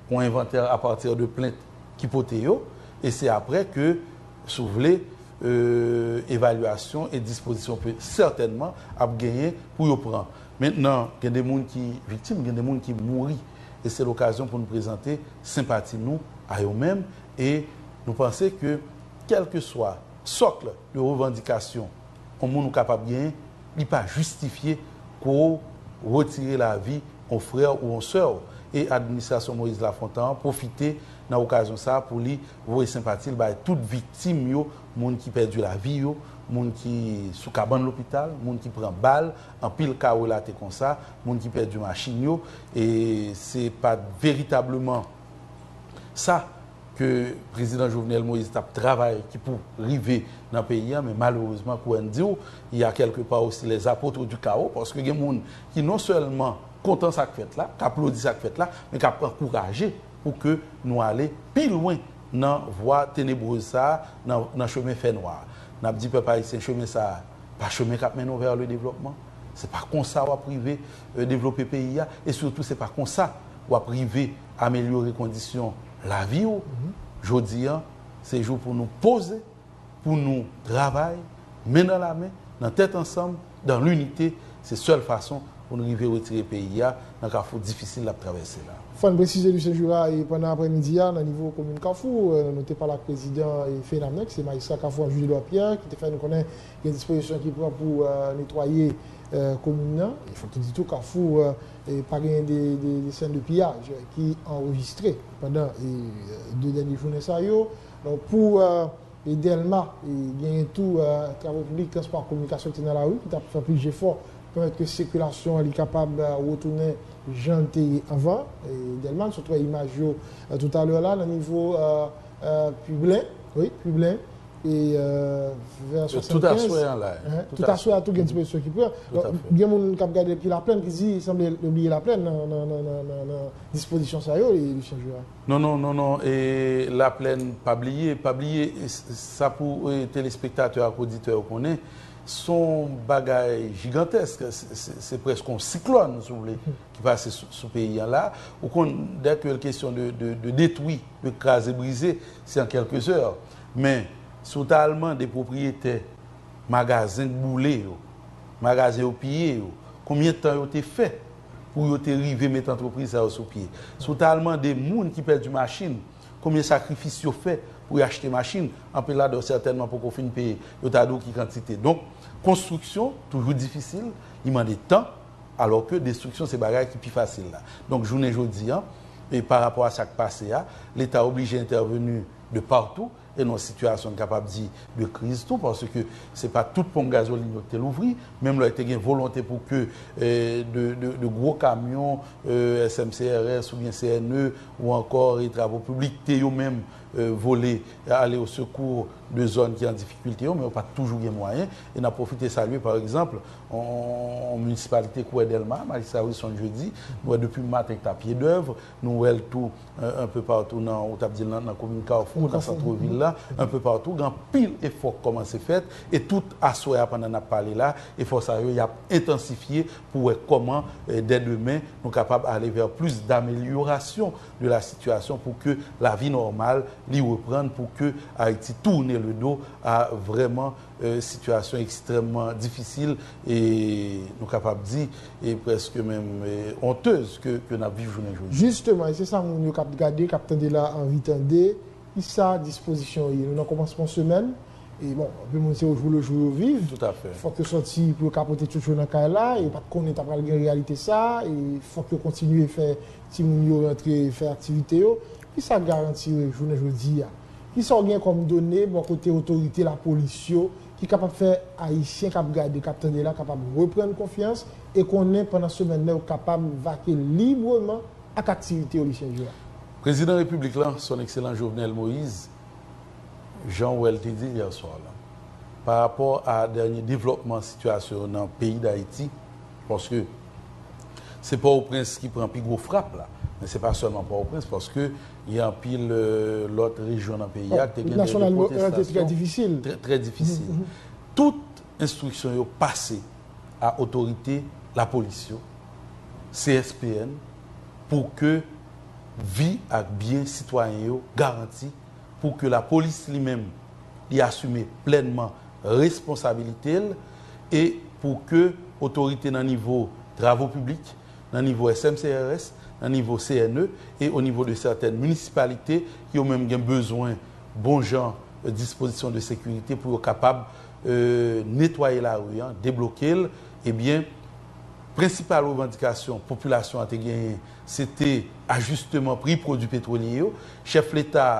Yon envantè a pati de plent ki pote yo, e se apre ke, si w vle, evalyasyon e dispozisyon ke sètènman ap genyen pou yo pran. Mentnan, gen de moun ki viktim, gen de moun ki mouri, e se lokazyon pou nou prezante senpati nou a yo menm, e nou panse ke kèlkeswa sokl de revandikasyon, yon moun ou kapab genyen, li pa jistifye pou ou retire lavi yon frè ou yon sè ou. E administrasyon Moïse Lafontan an pwofite nan okazyon sa a pou li voye senpati l bay tout viktim yo, moun ki pèdi lavi yo, moun ki sou kabann lopital, moun ki pran bal, anpil ka relate konsa, moun ki pèdi machin yo. E se pa veritableman sa. ke Prezidan Jovenel Moïse tap travay ki pou rive nan peyi a men malerezman kou Ann diw il ya kèlke pa osi les apotres du chaos paske gen moun ki non sèlman kontan sak fèt la k aplodi sak fèt la men kap ankouraje pou ke nou ale pi lwen nan vwa tenebreuse sa nan chemen fè nwa a nap di pèp ayisyen chemen sa pa chemen kap mennen w vers le développement se pa konsa wap rive devlope peyi a e sitou se pa konsa wap rive amelyore kondisyon lavi ou, jodi an se jou pou nou poze, pou nou travay men nan lamen, nan tèt ansanm, dan linite, se sèl fason pou nou rive retire peyi a nan kafou difisil l ap travèse la. Fò n presize Lucien Jura pandan aprè midi a nan nivo komin kafou nou te pale ak prezidan FENAME ki se majistra kafou an Jules Edouard Pierre ki te fè nou konnen gen dispozisyon ki pran pou netwaye komin nan. Fò k nou di tou kafou Pa genyen de sèn de piyaj ki anrejistre pandan 2 dènye jounen sa yo. Pou Dèlma, genyen tou travo piblik, transpò ak kominikasyon ki te nan lari, ki t ap fè plis jefò pou pèmèt ke sikilasyon li kapab retounen jan l te ye anvan. Dèlma, n sot wè imaj yo toutalè la nan nivo. Pwiblen, wi, pwiblen. E vè 75. Tout aswè an la. Tout aswè a tou gen ti pozisyon ki pran. Tout aswè. Gen moun ki ap gade depi Laplèn ki di sanble yo bliye Laplèn nan dispozisyon sa yo, Lucien Jurat. Non, non, non, non. E Laplèn pa bliye. Pa bliye sa pou telespektatè ak oditè yo konnen. Son bagay jigantèsk. Se prèske yon siklòn, si w vle, ki pase sou peyi an la ou konn dè ke l kesyon de detwi de kraze brize se an kelke zè men si w ta al mande pwopriyetè magazen k boule yo magazen yo piye yo konbyen tan yo te fè pou yo te rive met antrepriz sa yo sou pye si w ta al mande moun ki pèdi machin konbyen sakrifis yo fè pou y achte machin anpil ladan yo sètènman poko fin peye yo ta di w ki kantite donk konstriksyon toujou difisil li mande tan. Alò ke destriksyon se bagay ki pi fasil la. Donk jounen jodi an, e pa rapò a sa k pase a, Leta oblije entèveni de patou, e nan sitiyasyon n kapab di de kriz tou, paske se pa tout ponp gazolin yo ki te louvri, menm lè te gen volonte pou ke de gwo kamyon SMCRS oubyen CNE ou ankò e travo piblik te yo menm vole ale o sekou de zòn ki an difikilte yo, men yo pa t toujou gen mwayen. E n ap pwofite salye pa egzanp Yon minisipalite kouwè Dèlma, Majistra Wilson Jeudi, di, nou wè depi maten ki ta pye dèv, nou wè l tou enpe patou nan, ou tap di l nan komin Kafou, nan santre vil la, enpe patou, gen anpil efò ki kòmanse fèt, e tout aswè a pandan nap pale la, efò sa yo yap entansifye pou wè kòman dè demen nou kapab ale vè plis damelyorasyon de la sitiyasyon pou ke lavi nòmal li reprann pou ke Ayiti tourne le dos a vrèman sitiyasyon ekstrèmman difisil e nou kapab di e prèske menm ontez ke n ap viv jounen jodi a. Jisteman, e se sa moun yo k ap gade, k ap tande la a anvi tande, ki sa dispozisyon yo ye? Nou nan kòmansman semèn e bon, anpil moun se ojoulejou yo viv. Toutafè. Fòk yo sòti pou yo ka pote tchoutchou nan kay la. Yo pa t konnen ta pral gen reyalite sa a e fòk yo kontinye fè timoun yo rantre fè aktivite yo. Ki sa garanti jounen jodi a? Kisa w gen kòm done bò kote otorite lapolis yo ki kapab fè Ayisyen k ap gade, k ap tande la kapab reprann konfyans e konnen pandan semèn nan yo kapab vake libreman ak aktivite yo, Lucien Juin? Prezidan Repiblik la, Son Ekselan Jovenel Moise, jan w wè l te di l yè swa la, parapò a dènye devlòpman sitiyasyon nan peyi Dayiti, paske. Se Pòtoprens ki pran pi gwo frap la. Men se pa sèlman Pòtoprens paske gen anpil lòt rejyon nan peyi a ki te gen de repotestasyon trè difisil. Tout enstriksyon yo pase a otorite lapolis yo, CSPN, pou ke vi ak byen sitwayen yo garanti, pou ke lapolis li menm li asime plènman responsabilite l. e pou ke otorite nan nivo travo piblik, nan nivo SMCRS, nan nivo CNE e o nivo de sètèn minisipalite yo menm gen bezwen bon jan dispozisyon de sekirite pou yo kapab netwaye lari an, debloke l, ebyen prensipal revandikasyon popilasyon an te genyen se te ajisteman pri pwodui petwolye yo, chèf leta a.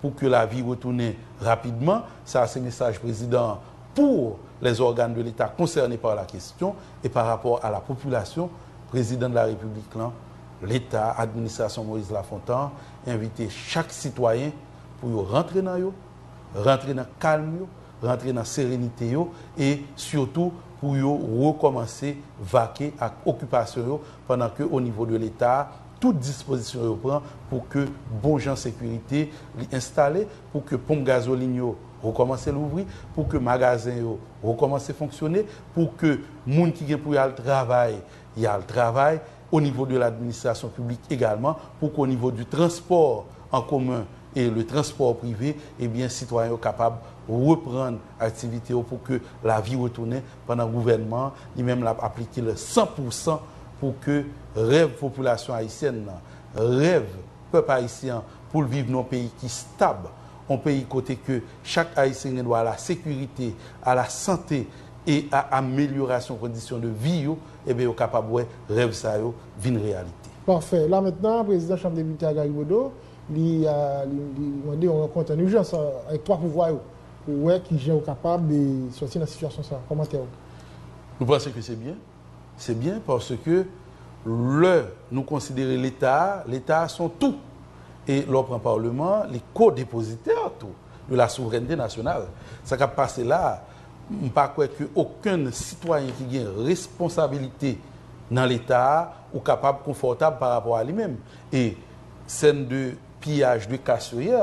Pou ke lavi retounen rapidman, sa a se mesaj prezidan an pour les organes de l'Etat concernes par la question et par rapport à la population, Prezidan de la Repiblik lan, Leta, Administrasyon Moise Lafontan envite chak sitwayen pou yo rantre nan yo, rantre nan kalm yo, rantre nan serenite yo e sitou pou yo rekòmanse vake ak okipasyon yo pandan ke o nivo de Leta, tout dispozisyon yo pran pou ke bon jan sekirite li enstale, pou ke ponp gazolin yo rekòmanse louvri, pou ke magazen yo rekòmanse fonksyone, pou ke moun ki gen pou y al travay, y al travay, o nivo de l'administration publique egalman, pou ke o nivo du transport en commun et le transport privé, ebyen sitwayen yo kapab reprann aktivite yo pou ke lavi retounen, pandan gouvènman an li menm l ap aplike l san pou san pou ke rèv popilasyon ayisyèn nan, rèv pèp ayisyen an pou l viv nan yon peyi ki stab, yon peyi kote ke chak ayisyen gen dwa a la sekirite, a la sante e a amelyorasyon kondisyon de vi yo, eben yo kapab wè rèv sa yo vin reyalite. Pafè. La mentnan, prezidan Chanm Depite a, Gary Bodeau, li mande yon rankont an ijans avèk 3 pouvwa yo. Pou w wè kijan ou kapab sòti nan sitiyasyon sa a. Kòmantè ou. Nou panse ke se byen. Se byen paske lè nou konsidere Leta a, Leta a se yon tou. E lè w pran Paleman an, li ko-depozitè tou de la souvrènte nasyonal. Sa k ap pase la a, m pa kwè ke okenn sitwayen ki gen responsabilite nan Leta a ou kapab konfòtab pa rapò a li menm. E sèn de piyaj de kas yo yè,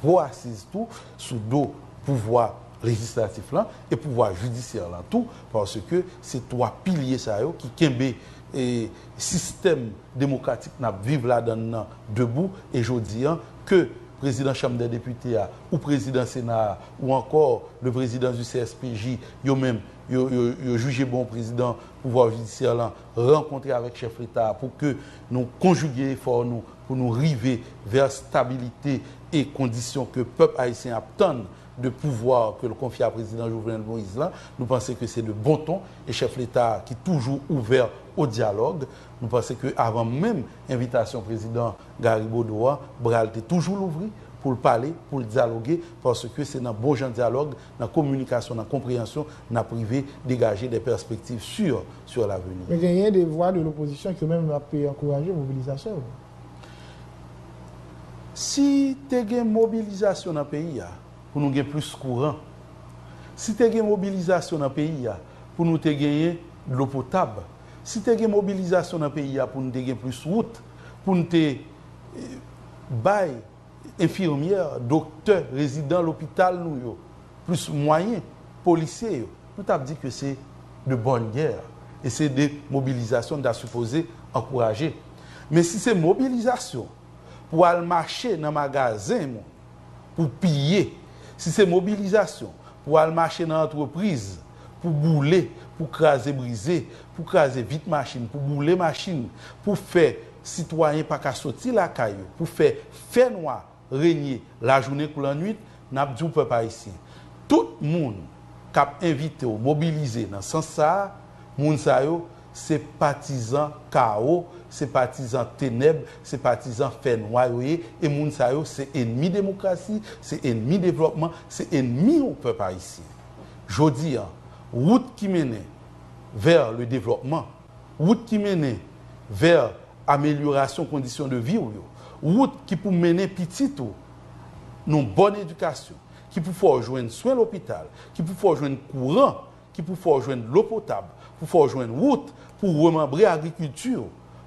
gwo asiz tou sou do pouvwa lejislatif lan e pouvwa jidisyè lan tou paske se 3 pilye sa yo ki kenbe sistèm demokratik n ap viv ladan l lan debou e jodi an ke prezidan chanm dè depite a ou prezidan sena a ou ankò le prezidan di CSPJ yo menm yo jije bon prezidan pouvwa jidisyè lan rankontre avèk chèf leta a pou ke nou konjige efò nou pou nou rive vè stabilite e kondisyon ke pèp ayisyen ap tann de pouvwa ke l konfye a Prezidan Jovenel Moïse la, nou panse ke se de bon ton e chèf leta a ki toujou ouvè o dyalòg, nou panse ke avan menm envitasyon Prezidan Garry Bodeau a, bra l te toujou louvri pou l pale, pou l dyaloge, paske se nan bon jan dyalòg, nan kominikasyon, nan konpreyansyon n ap rive degaje de pèspektiv sur. sur l'avenir. Men genyen des voix de l'opposition ke menm ap ankouraje mobilizasyon yo. Si te gen mobilizasyon nan peyi a pou nou gen plis kouran, si te gen mobilizasyon nan peyi a pou nou te genyen dlo potab, si te gen mobilizasyon nan peyi a pou nou te gen plis wout, pou nou te bay. Enfirmyè, doktè, rezidan lopital nou yo, plis mwayen, polisye yo, nou tap di ke se de bonne guerre e se de mobilizasyon nou ta sipoze ankouraje. Men si se mobilizasyon pou al mache nan magazen moun pou piye, si se mobilizasyon pou al mache nan antrepriz, pou boule, pou kraze brize, pou kraze vit machin, pou boule machin, pou fè sitwayen pa ka soti lakay yo, pou fè fè nwa renye lajounen kou lannuit, n ap di w pèp ayisyen, tout moun k ap envite w mobilize nan sans sa a, moun sa yo se patizan kawo, se patizan tenèb, se patizan fè nwa yo ye e moun sa yo se enmi demokrasi, se enmi devlòpman, se enmi w pèp ayisyen. Jodi a, wout ki mennen vè le devlòpman, wout ki mennen vè amelyorasyon kondisyon de vi w yo, wout ki pou mennen pitit ou nan yon bòn edikasyon, ki pou fè w jwenn swen lopital, ki pou fè w jwenn kouran, ki pou fè w jwenn dlo potab, pou fè w jwenn wout pou w remanbre agrikilti w,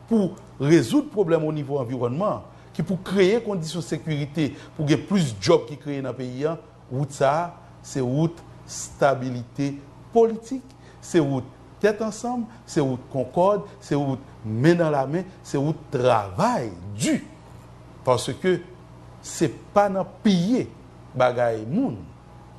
pou w rezoud pwoblèm onivo anviwònman, ki pou kreye kondisyon sekirite pou gen plis djòb ki kreye nan peyi a, Wout sa a, se wout stabilite politik, se wout tèt ansanm, se wout konkòd, se wout men nan la men, se wout travay di. Paske se pa nan piye bagay moun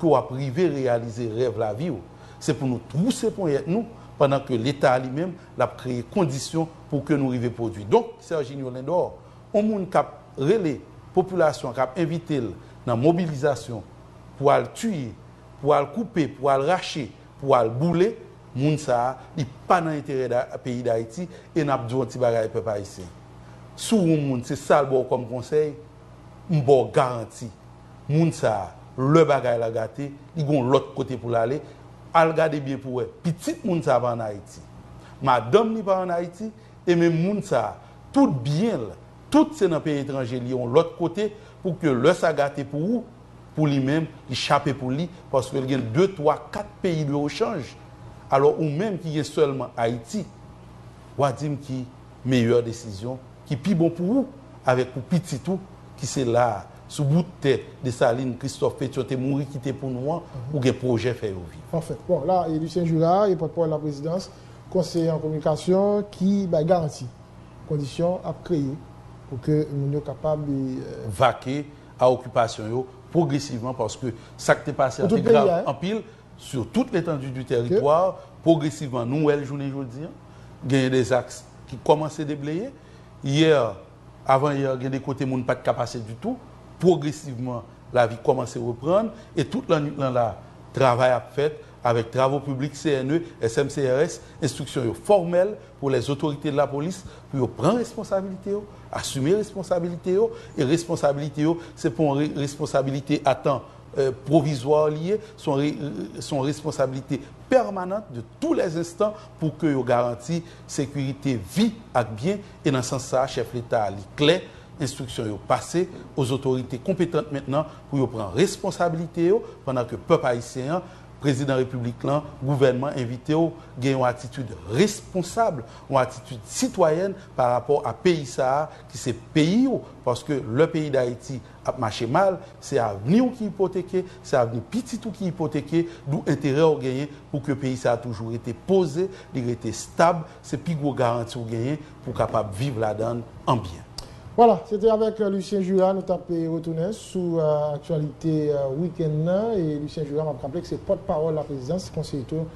ke w ap rive reyalize rèv lavi w. Se pou nou twouse ponyèt nou pandan ke Leta a li menm l ap kreye kondisyon pou ke nou rive pwodui. Donk, Serginio Lindor, yon moun k ap. Rele popilasyon an k ap envite l nan mobilizasyon pou al tiye, pou al koupe, pou al rache, pou al boule, moun sa a, li pa nan enterè peyi Dayiti e n ap di w yon ti bagay pèp ayisyen. Si w yon moun se sa l ba w kòm konsèy, m ba w garanti, moun sa a, lè bagay la gate, li gen yon lòt kote pou l ale, al gade byen pou w wè, pitit moun sa a pa ann Ayiti, madanm li pa ann Ayiti e menm moun sa a, tout byen l, Tout se nan peyi etranje li yon lòt kote pou ke lè sa gate pou ou, pou li menm li chape pou li paske l gen de twa kat peyi de ochanj alò ou menm ki gen sèlman Ayiti wa di m ki meyè desizyon ki pi bon pou ou avèk pou pitit ou ki se la a sou bout tè Desalin, Kristòf, Petyon te mouri kite pou nou an ou gen pwojè fè yo viv. Pafè. Bon la e Lucien Jura e pòtpawòl laprezidans konseye an kominikasyon ki bay garanti. Kondisyon ap kreye pou ke moun yo kapab. Vake a okipasyon yo pwogresivman paske sa k te pase a te grav anpil sou tout letandu di teritwa. Pwogresivman nou wè l jounen jodi an. Genyen de zaks ki kòmanse debleye. Yè, avan yè, gen de kote moun pa t ka pase ditou. Pwogresivman lavi kòmanse reprann e tout lannwit lan la travay ap fèt. Avèk travo piblik CNE, SMCRS, enstriksyon yo fòmèl pou lè zotorite de lapolis pou yo pran responsabilite yo, asime responsabilite yo, e responsabilite yo se pa yon responsabilite a tan pwovizwa li ye, se yon responsabilite pèmanant de tou lè zenstan pou ke yo garanti sekirite vi ak byen, e nan sans sa a chèf leta a li klè, enstriksyon yo pase o zotorite konpetant mentnan pou yo pran responsabilite yo pandan ke pèp ayisyen an, prezidan repiblik lan, gouvènman envite w gen yon atitid responsab, yon atitid sitwayèn pa rapò a peyi sa a ki se peyi w paske lè peyi Dayiti ap mache mal se avni w ki ipoteke, se avni pitit ou ki ipoteke dou enterè w genyen pou ke peyi sa a toujou rete poze, li rete stab. Se pi gwo garanti ou genyen pou w kapab viv ladan l an byen. Wala, se te avèk Lucien Jura nou t ap retounen sou aktyalite wikenn nan. E Lucien Jura, m ap raple ke se pòt pawòl laprezidans, konseye tou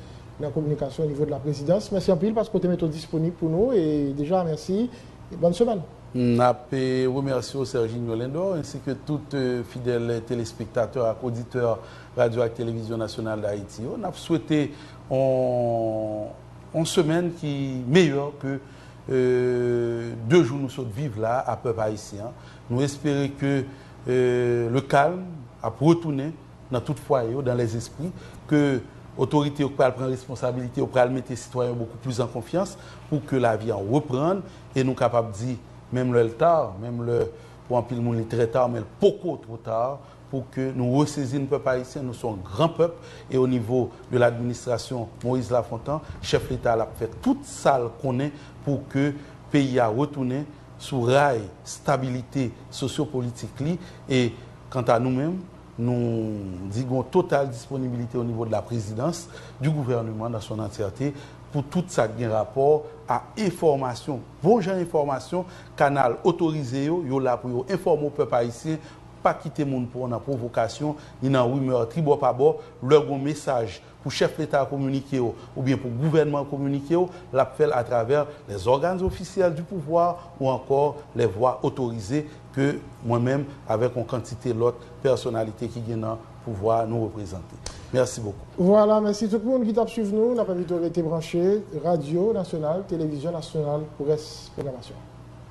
nan kominikasyon onivo de laprezidans. Mèsi anpil paske w te mete w disponib pou nou. E deja mèsi e bòn semèn. M ap remèsye w Serginho Lindor ensi ke tout fidèl telespektatè ak oditè Radyo ak Televizyon Nasyonal Dayiti yo. N ap swete yon. Yon semèn ki meyè ke 2 jou nou sot viv la a pèp ayisyen an. Nou espere ke le calme ap retounen nan tout fwaye yo, dans les esprits, ke otorite yo pral pran responsabilite yo, pral mete sitwayen yo beaucoup plus en confiance pou ke lavi an reprann e nou kapab di menm lè l tard, menm lè pou anpil moun li trè tard men l poko two tard pou ke nou resezin pèp ayisyen nou son gran pèp e o nivo de l'administration Moïse Lafontan chèf leta lap fè tout sal konnen pou ke peyi a retounen sou ray stabilite sosyo politik li e kanta nou menm nou di gon total disponibilite o nivo de la prezidans du gouvernement dans son entièreté pou tout sak gen rapò a enfòmasyon bon jan enfòmasyon kanal otorize yo yo la pou yo enfòme pèp ayisyen Pa kite moun pran w nan pwovokasyon ni nan rimè tribòpabò. Lè gon mesaj pou chèf leta a kominike w oubyen pou gouvènman an kominike w, l ap fè l atravè les organes officiels du pouvoir ou encore les voies autorisées ke mwen menm avèk on kantite lòt pèsonalite ki gen nan pouvwa a nou reprezante. Mèsi bokou. Vwala, mèsi tout moun ki t ap swiv nou. N ap envite w rete branche Radyo Nasyonal, Televizyon Nasyonal pou rès pwogramasyon an.